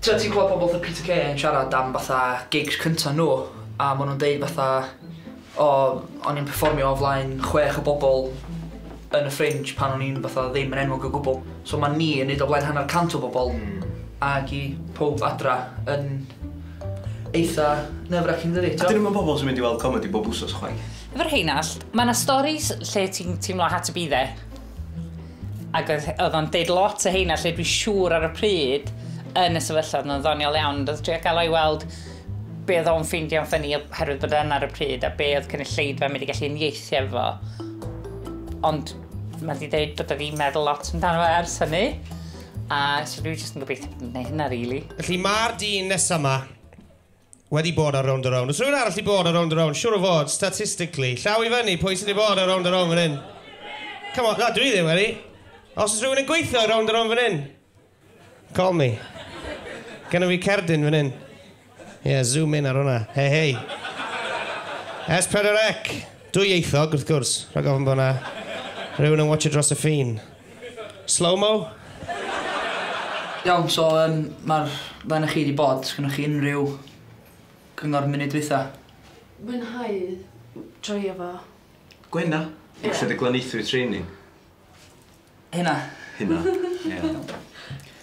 Tibod ti'n clywed pobl fatha Peter Kay yn siarad am fatha gigs cynta nhw a maen nhw'n deud fatha o o'n i'n perfformio o flaen chwech o bobl yn y Fringe pan o'n i'n fatha ddim yn enwog o gwbl. So ma' ni yn neud o flaen hanner cant o bobl ag i powb adra yn eitha nerve-racking dydi? T'o'? A 'dyn nhw'm yn bobl sy'n mynd i weld comedi bob wsos chwaith. Fy rheinallt, ma' 'na storis lle ti'n teimlo had to be there. Ac oedd, oedd o'n deud lot o heina lle dwi'n siŵr ar y pryd yn y sefyllfa oedd o'n ddoniol iawn. Oedd trio gael o'i weld be oedd o'n ffeindio'n ffynnu oherwydd bod yna ar y pryd a be oedd cynulleidfa mynd i gallu unieithu efo. Ond mae wedi dweud bod wedi meddwl lot amdano fe ers hynny. A so dwi'n jyst yn gobeithio bod yn gwneud hynna, really. Felly mae'r dyn nesaf yma wedi bod ar Rownd a Rownd. Os rhywun arall wedi bod ar Rownd a Rownd, siwr o fod, statistically. Llaw i fyny, pwy sydd wedi bod ar Rownd a Rownd fan hyn? Come on, na, dwi ddim wedi. Os oes rhywun yn gweithio ar Rownd a Rownd fan hyn, call me. Gynna fi cerdyn fan hyn. Ie, yeah, zoom in ar hwnna. Hei, hei. S4C. Dwy ieithog, wrth gwrs. Rhaid gofyn bod yna rhywun yn watch dros y ffin. Slow-mo? Iawn so yym ma'r ddau o'noch chi 'di bod, sgynnoch chi unrhyw cyngor munud dwytha? Mwynhau joio fo. Gwena? Ie. Lle 'di glaneuthwyd training? Hynna. Hynna? Ie.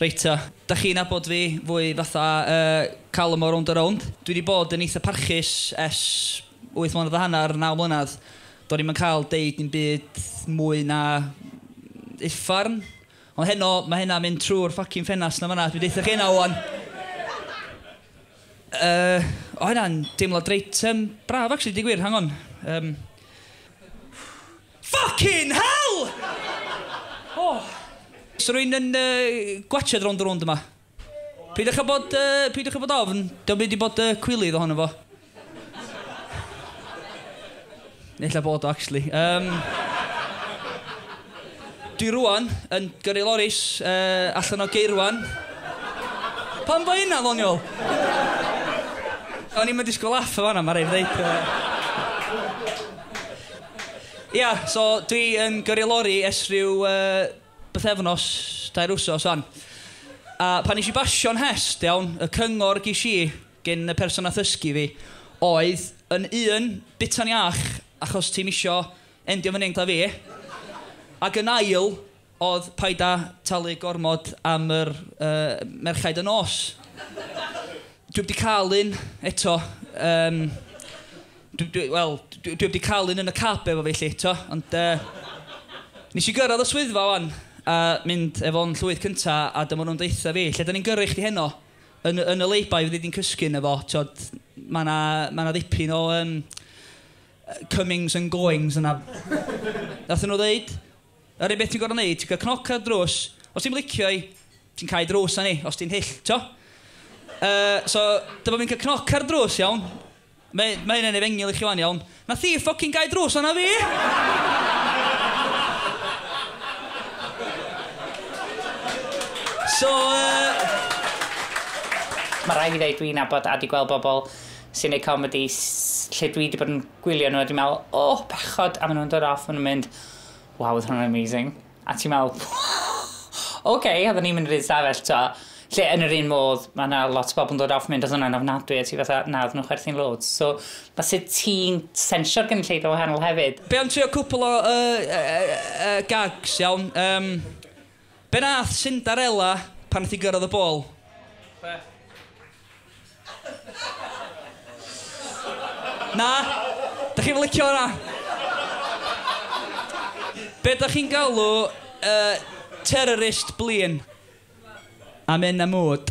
Reit ta, da chi'n abod fi fwy fatha uh, calm o rownd a rownd. Dwi wedi bod yn eitha parchus es 8 mlynedd a hanner, 9 mlynedd. Do'n i'n cael deud yn byd mwy na uffarn. Ond heno, mae hynna mynd trwy'r ffocin ffenast na fanna. Dwi'n deitha chi hynna o'n. Uh, o hynna'n deimlo dreit um, braf, actually, di gwir, hang on. Um, Ffycin hell! Oh. Sa rwy'n yn gwatsiad rownd a rownd yma. Peidiwch â bod, peidiwch â bod ofn, dio'm byd i bod cwilydd ohono fo. Ella bod o, actually. Um, dwi rwan yn gyrru loris uh, allan o geirwan. Pan fo hynna, ddoniol? O'n i'n mynd i sgol aff o fanna, mae rhaid ddeud. Uh, Ia, so dwi yn gyrru lori ers rhyw uh, bythefnos, dair wsos o'n. A pan nes i basio'n hest, iawn, y cyngor ges i gen y person a thysgu fi oedd yn un, bita'n iach achos ti'n isio endio fyny'n gla fi, ac yn ail, Oedd paid a talu gormod am yr yy merchaid y nos. Dwi 'eb 'di cael un eto yym dwi dwi wel dwi dwi 'eb 'di cael un yn y cab efo fi 'lly t'o' ond yy nes i gyrraedd y swyddfa 'wan a mynd efo'n llwyth cynta a dyma nhw'n deutha fi lle 'da ni'n gyrru chdi heno? Yn yn y lay-by fyddi di'n cysgu yno fo t'od ma' 'na ma' 'na ddipyn o yym yy comings and goings yna. Nathon nhw ddeud Yr unig beth ti'n gorfod neud, ti'n cael cnoc ar y drws, os ti'm licio i, ti'n cau drws arni, os ti'n hyll, t'o'? Yy, so, dyma fi'n cael cnoc ar y drws, iawn? Mae, mae hyn yn efengyl i chi 'wan, iawn? Nath hi ffocin gau drws arna fi! So, yy... Mae rhaid fi ddeud, dwi'n nabod a di gweld bobl sy'n neud comedi s- lle dwi di bod yn gwylio nhw a dwi'n meddwl, O, bechod! A maen nhw'n dod off, maen nhw'n mynd, Waw oedd hwnna'n amazing. A ti'n meddwl ok oedden ni'n mynd i'r un stafell t'o'? Lle yn yr un modd ma' 'na lot o bobl yn dod off mynd odd hwnna'n ofnadwy a ti fatha na oedden nhw'n chwerthin loads so ma' sut ti'n sensio'r gynulleidfa wahanol hefyd. Be am trio cwpwl o yy yy yy yy gags iawn? Yym. Be nath Cinderella pan nath hi gyrraedd y bol? Be? Na? Dach chi'm yn licio hwnna? Be dach chi'n galw yy terrorist blin? Am hyn a mwd.